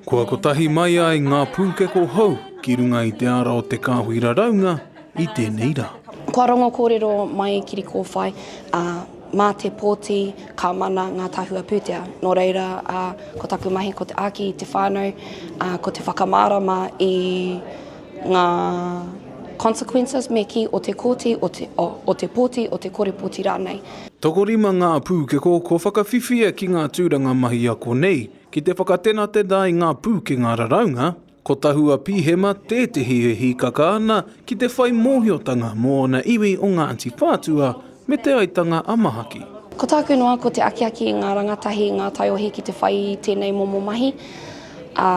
Kua kotahi mai ai ngā pūkeko hou ki runga i te ara o te kāhui raraunga i tēnei rā. Kua rongo kōrero mai Kirikōwhai, ā, mā te pōti ka mana ngā tahua pūtea. Nō reira, ā, ko taku mahi ko te āki i te whānau, ā, ko te whakamārama i ngā consequences me kī o te kōti, o te, o, o te pōti, o te kore pōti rānei. Tokorima ngā pūkeko kua whakawhiwhia ki ngā tūranga mahi ako nei. Ki te whakatenatena i ngā pūkenga raraunga, ko Tahua Pihema tētehi e hīkaka ana ki te whai mōhiotanga mō ōna iwi o Ngāti Whātua me Te Aitanga a Mahaki. Ko tāku noa ko te akiaki i ngā rangatahi i ngā taiohi ki te whai i tēnei momo mahi, ā,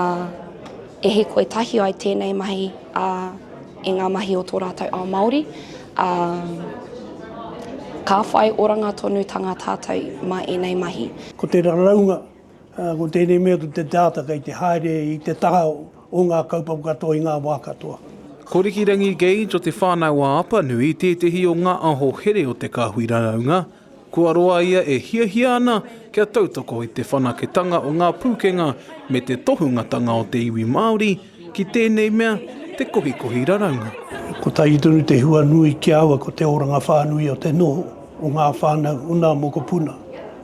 e hīkoi tahi ai tēnei mahi, ā, i ngā mahi o tō rātou ao Māori, ā, ka whai oranga tonutanga tātou mā ēnei mahi. Ko te raraunga ā, ko tēnei mea ko te data kei te haere i te taha o ngā kaupapa katoa i ngā wā katoa. Ko Rikirangi Gage o Te Whānau a Apanui tētehi o ngā aho here o te kāhui raraunga. Kua roa ia e hiahia ana kia tautoko i te whanaketanga o ngā pūkenga me te tohungatanga o te iwi Māori, Ki tēnei mea, te kohikohi raraunga. Kotahi tonu te hua nui ki a aua ko te oranga whānui o te noho o ngā whānau o nā mokopuna,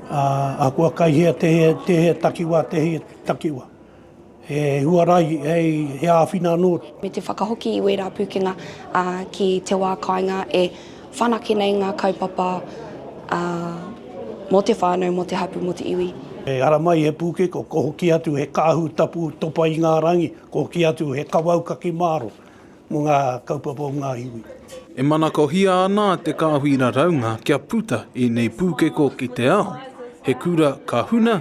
ā, ahakoa kai hea tēhea takiwā tēhea takiwā, he huarahi hei he āwhina anō. Me te whakahoki i wērā pūkenga ki te wā kāinga e. Whanake nei ngā kaupapa mō te whānau, mō te hapū, mō te iwi. E ara mai he pūkeko, ko hoki atu he kāhu tapu topa i ngā rangi, ko hoki atu he kawau kake māro mō ngā kaupapa o ngā iwi. E manakohia ana te kāhui raraunga kia puta ēnei pūkeko ki te ao, he kura ka huna,